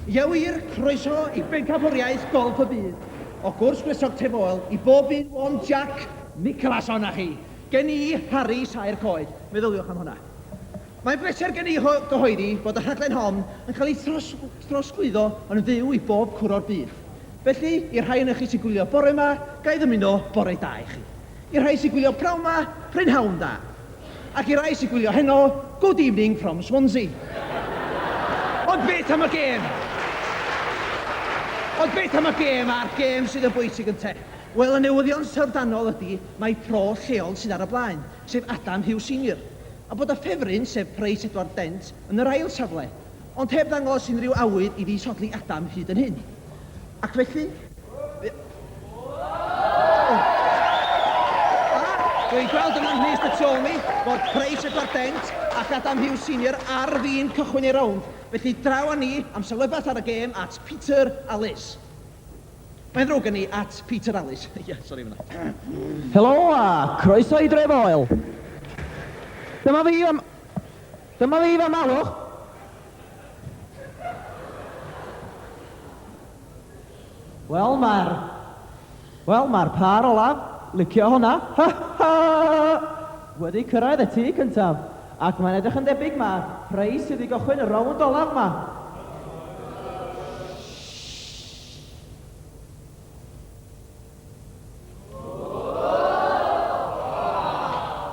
Llywir, croeso i Bencampwriaeth Golff y Byd. O gwrs gwresog Tefoel i bob un o'n Jac Nicholson a chi. Gen i Harri saer coed, meddyliwch am hwnna. Mae'n bleser gen i gyhoeddi bod y rhaglen hon yn cael ei throsglwyddo yn fyw i bob cwr o'r byd. Felly, i'r rhai onoch chi sy'n gwylio bore 'ma, ga i ddymuno bore da i chi. I'r rhai sy'n gwylio pnawn 'ma, prynhawn da. Ac i'r rhai sy'n gwylio heno, good evening from Swansea. Ond beth am y gêm? Ond beth am y gêm a'r gêm sydd yn bwysig ynte? Wel, y newyddion syfrdanol ydy mai pro lleol sydd ar y blaen, sef Adam Hughes Senior, a bod y ffefryn, sef Pryce Edward Dent, yn yr ail safle. Ond heb ddangos unrhyw awydd i ddisodli Adam hyd yn hyn. Ac felly, fe... Dwi'n gweld yma ym mhlith y tu ôl mi fod Price, Edward Dent ac Adam Hughes Senior ar fin cychwyn eu rownd, felly draw â ni am sylwedd bach ar y gêm at Peter a Liz. Mae'n ddrwg gen i, at Peter a Liz. Ie, sori am hynna. Helo a chroeso i Dre Foel. Dyma fi am... Dyma fi fy malwch! Wel mae'r... Wel mae'r pâr olaf, licio honna, ha ha! wedi cyrraedd y tŷ cyntaf, ac mae'n edrych yn debyg ma Prei sydd i gychwyn y rownd olaf ma! Shh!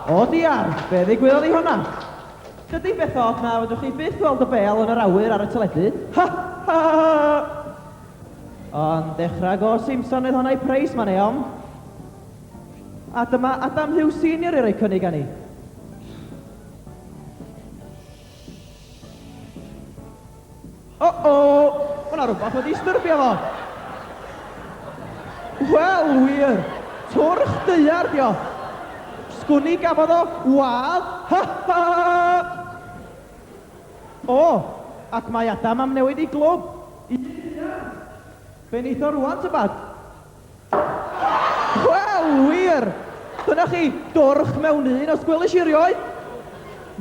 O diar! Be ddigwyddodd i honna? Chydig beth od na fedrwch chi byth weld y bêl yn yr awyr ar y teledu. Ha! Ha! Ond dechrau go Simson oedd honna i Price man eom. A dyma Adam Hughes Senior i roi cynnig ani. O-o! Mae yna rhywbeth wedi styrbio fo! Wel, wir! Twrch daear 'di o! Sgwn i gafodd o wadd! Ha ha! O! Ac mae Adam am newid ei glwb! Be neith o rŵan, tybed? Wel, wir! Dyna chi, dorch mewn un, os gwelish i erioed!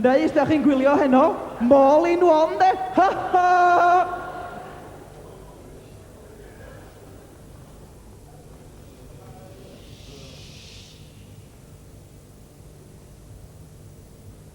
Neu os da chi'n gwylio heno, mall in one de! Ha ha!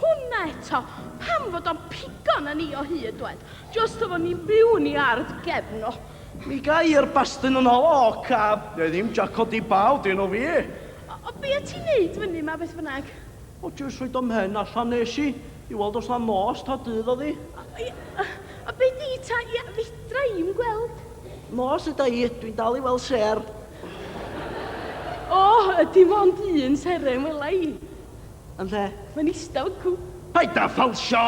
Hwna eto! Pam fod o'n pigo na ni o hyd, dwed? Jyst efo ni'n byw yn i ardd gefn o. Mi gai yr bastun yn ol, o, caf! Neu ddim jaco di baw dyn o fi! O, o, be o ti'n neud fyny ma, beth bynnag? O, jyst rhoid o'm mhen allan nes i, i weld os na nos ta dydd o'dd i. O, ia, o, o, be di ta, ia, fedra i'm gweld. Nos yda i, dwi'n dal i weld sêr. O, dim ond un seren wela i. Yn lle? Mae'n eistedd yn cw... Paid â ffalsio!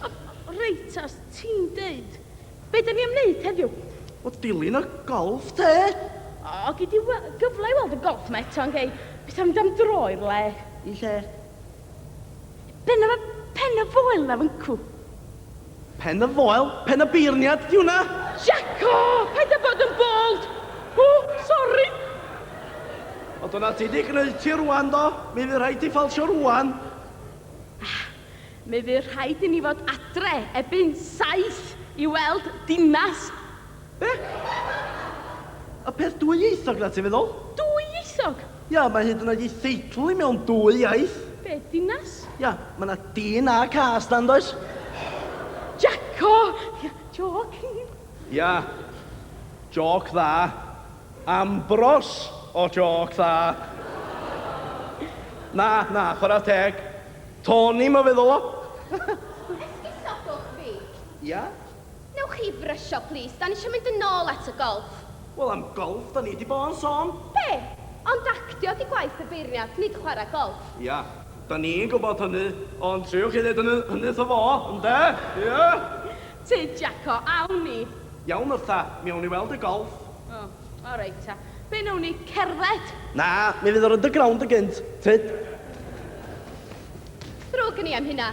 O, reit, os ti'n deud. Be da ni am wneud heddiw? O, dilyn y golff, te? O, gei di gyfle i weld y golff yma eto, yn gei? Beth am mynd am dro i'r le? I lle? Pen y, pen y foel na fyncw. Pen y foel? Pen y beirniad? Di hwnna? Jacko! Paid a bod yn bold! O, sori! O, dyna ti di gneud ti rwan, do? Mi fydd rhaid ti ffalsio rwan. Ah, mi fydd rhaid i ni fod adre ebyn saith i weld dinas. Be? Y peth dwyieithog 'na, ti'n feddwl? Dwyieithog? Ia, mae hyd yn oed ei theitl hi mewn dwy iaith. Be, dinas? Ia, mae 'na dyn a cas 'na, yn does? Jacko! Ia, jôc. Ia, jôc dda. Ambros o jôc dda. Na, na, chwarae teg. Tony, mae'n feddwl o. Esgusodwch fi. Ia? Newch chi brysio plîs, da ni isio mynd yn ôl at y golff. Wel am golff da ni di bo'n sôn. Be? Ond actio di gwaith y beirniad, nid chwarae golff. Ia, da ni'n gwybod hynny, ond triwch chi ddeud hynny, hynny wrtho fo, ynde? Ia? Te Jacko, awn ni. Iawn Wrtha, mi awn ni weld y golff. O, o reit ta. Be newn ni, cerdded? Na, mi fydd yr underground yn gynt, tyd. Ddrwg gen i am hynna.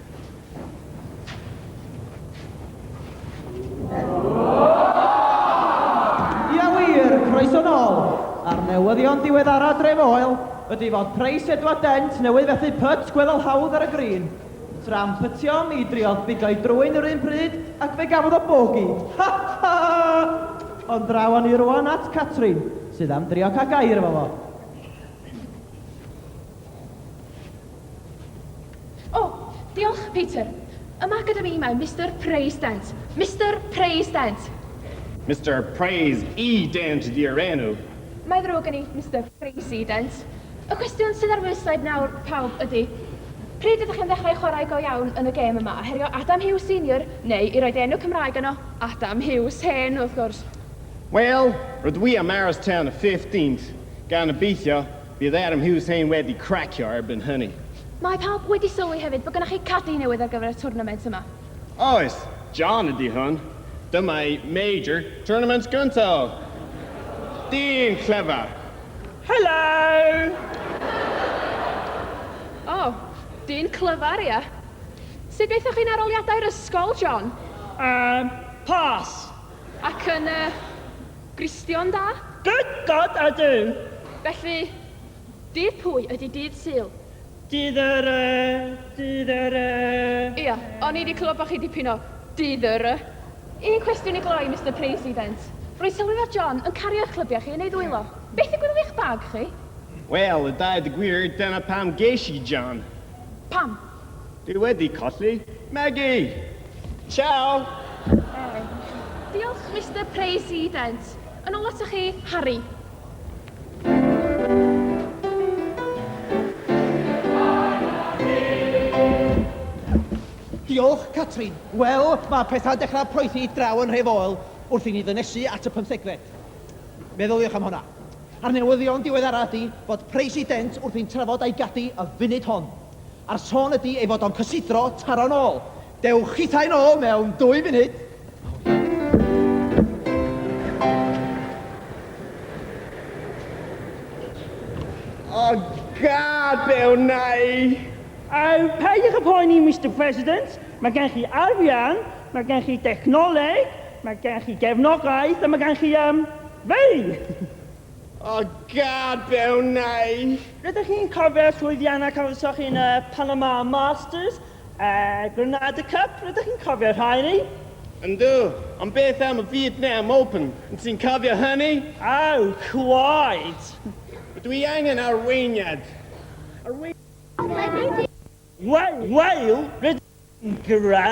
newyddion diweddara Dref Oel ydy fod Preis Edward Dent newydd fethu pyt gweddol hawdd ar y grîn. Tram pytio, mi driodd bigo'i drwyn yr un pryd ac fe gafodd o bogi. Ha ha! Ond draw ni rwan at Catrin, sydd am drio cael gair efo fo. O, diolch, Peter. Yma gyda mi mae Mister Praise Dent. Mister Praise Dent! Mister Praise E Dent ydi'r enw. Mae ddrwg gen i, Mister Praise E Dent. Y cwestiwn sydd ar wystled nawr, pawb, ydi, pryd ydych chi'n ddechrau chwarae go iawn yn y gêm yma, a herio Adam Hughes Senior, neu, i roid enw Cymraeg yno, Adam Hughes Hen, wrth gwrs? Wel, rydw i am aros tan y 15th, gan obeithio Bydd Adam Hussain wedi cracio erbyn hynny. Mae pawb wedi sylwi hefyd bod gennych chi cadi newydd ar gyfer y twrnament yma. Oes, John ydy hwn. Dyma ei major tournament gynta o. Dyn clyfar. Helo! O, dyn clyfar, ia. Sut gaethoch chi'n aroliadau'r ysgol, John? Yym, pas. Ac yn y Gristion da? Good God a Duw! Felly, dydd pwy ydi dydd Sul? Dydd yr y, dydd yr y, Ia, o'n i 'di clywed bod chi dipyn o dydd yr y. Un cwestiwn i gloi, Mister President. Rwy'n sylwi fod John yn cario eich clybiau chi yn ei ddwylo. Beth ddigwyddodd i'ch bag chi? Wel, a dweud y gwir, dyna pam ges i John. Pam? Dwi wedi colli Megi! Ciao! Diolch, Mister President. Yn ôl atoch chi, Harry. Diolch, Catrin. Wel, mae pethau'n dechrau poethi draw yn nhre Foel wrth i ni ddynesu at y pymthegfed. Meddyliwch am honna. A'r newyddion diweddara ydy fod President wrthi'n trafod a'i gadi y funud hon. A'r sôn ydi ei fod o'n cysidro taro'n ôl. Dewch chithau'n ôl mewn dwy funud. O gad fe wnai! O, peidiwch â phoeni, Mister President. Mae gen chi arian, mae gen chi dechnoleg, mae gen chi gefnogaeth a mae gen chi, um, fi! O gadael neu! Rydych chi'n cofio'r llwyddiannau cafwyswch chi yn y Panama Masters a Granada Cup? Rydych chi'n cofio'r rhain-ni? Yndw, ond beth am y Vietnam Open? Wyt ti'n cofio hynny? Aw, cwaed! Rydw i angen arweiniad! Arweiniad? Wel, wel, rydych chi'n greu!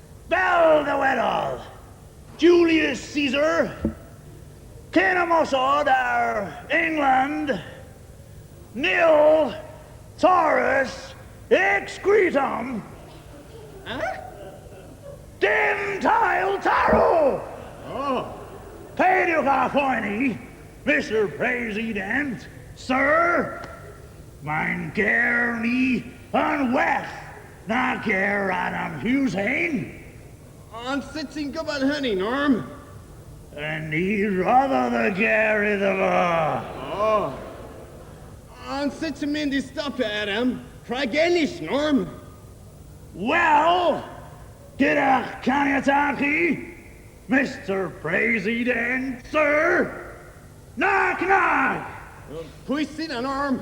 Fel ddywedodd Julius Caesar cyn ymosod ar England, Nil Taurus excretum, dim tail tarw! Peidiwch â phoeni, Mister President, Sir, mae'n ger ni yn well. Nac yw'r Adam Hughes hyn! Ond sut ti'n gwybod hynny, Norm? A ni roddodd y ger iddo fo! O! Ond sut ti'n mynd i stopio Adam rhag ennill, Norm? Wel, gyda'ch caniatâd chi, Mister President, Sir, nac, nac! Pwy sy 'na, Norm?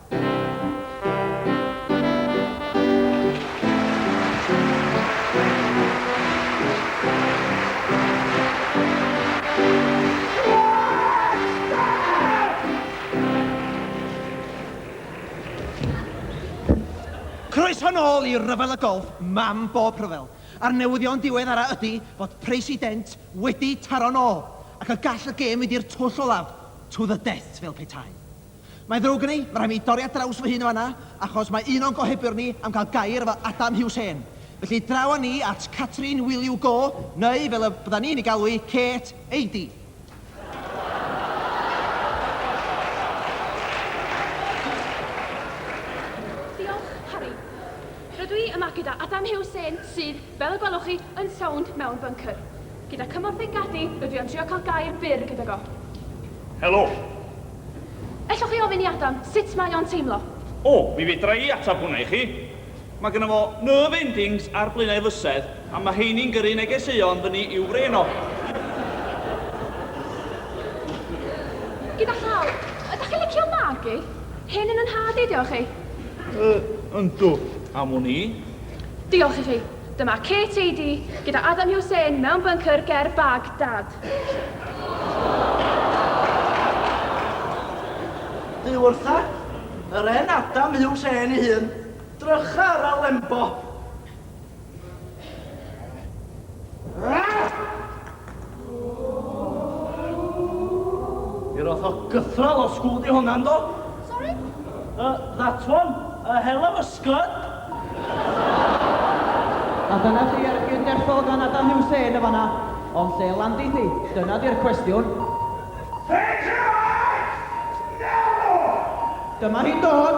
Croeso nôl i Rhyfel y Golff, mam bob rhyfel. A'r newyddion diweddara ydy fod President wedi taro'n ôl ac y gall y gêm fynd i'r twll olaf, to the death fel petai. Mae'n ddrwg gen i, mae rhaid mi dorri ar draws fy hun yn fanna, achos mae un o'n gohebiwr ni am cael gair efo Adam Hughes Hen. Felly draw â ni at Catrin Will You Go, neu fel y bydda ni'n ei galw hi, Kate Eidy. Diolch, Harri. Rydw i yma gyda Adam Hughes Hen, sydd, fel y gwelwch chi, yn sownd mewn byncr. Gyda cymorth ei gad-i, rydw i am trio cael gair byr gydag o. Helo. Ellwch chi ofyn i Adam sut mae o'n teimlo? O, mi fedra i ateb hwnna i chi. Mae gynno fo nerve endings ar blaenau fysedd a mae heini'n gyrru negeseuon fyny i'w frên o. Gyda llaw. Ydach chi'n licio magu? Hyn yn 'y nhad i, diolch i. Yy, yndw. Am wn i. Diolch i chi. Dyma Kate Eady gyda Adam Hussain mewn byncr ger Baghdad. Bu wrtha yr 'en' Adam Hussain ei hun drycha ar y Lembo. Yr oth o gythral o school di honna yndo? Sorry? Uh, that one. A hell of a scud. A dyna chi ar un deffo gan Adam Hussein yn fanna. Ond lle landi ti? Dyna di'r cwestiwn. Take your eyes! Never! Dyma hi'n dod!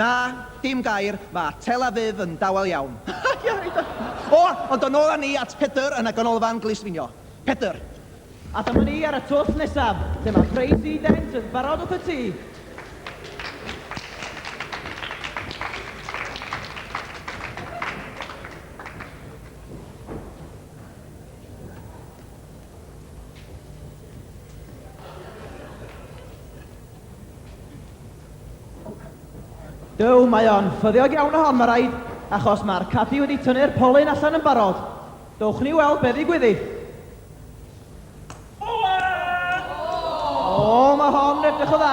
Na, dim gair, mae Tel Aviv yn dawel iawn. O, ond yn ôl â ni at Pedr yn y Ganolfan Glusfinio. Pedr. A dyma ni ar y twll nesaf, lle mae Crazy Dent yn barod wrth y tŷ. Duw, mae o'n ffyddiog iawn o hon, mae rhaid, achos mae'r cadi wedi tynnu'r polyn allan yn barod. Dowch ni weld be ddigwydd iddi. O, mae hon yn edrych o dda.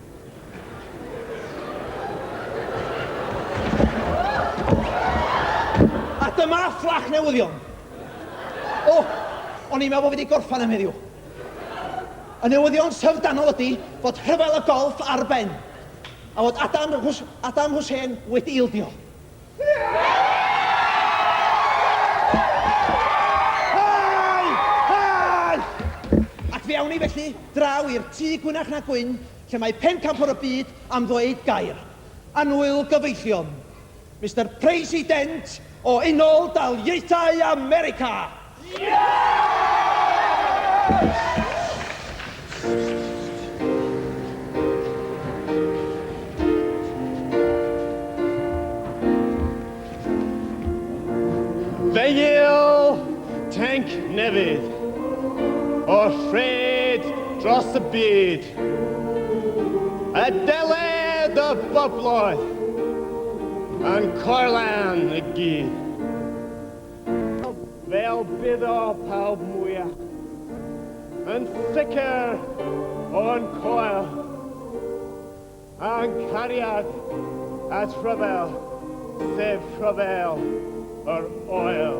A dyma fflach newyddion. O, o'n i'n meddwl bod fi wedi gorffan am heddiw. Y newyddion syfrdanol ydy fod rhyfel y golff ar ben a fod Adam, Adam Hussein wedi ildio. Hei! Hei! Ac fe awn ni felly draw i'r tŷ gwynach na gwyn lle mae pencampwr y byd am ddweud gair. Annwyl gyfeillion. Mister President o Unol Daliaethau America! Fenyl tank newydd o'r ffred dros y byd. Y deled y bobloedd yn corlan y gyd. Fel bydd o pawb mwya. Yn sicr o'n coel. A'n cariad at rhyfel, sef rhyfel yr oel.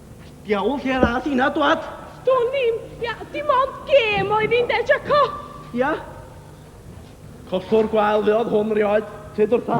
Diawl lle ddath hynna dwad? Do'n i'm, ia, dim ond gêm oedd hi'n de, Jaco? Ia. Collwr gwael fuodd hwn rioed, te dwrtha.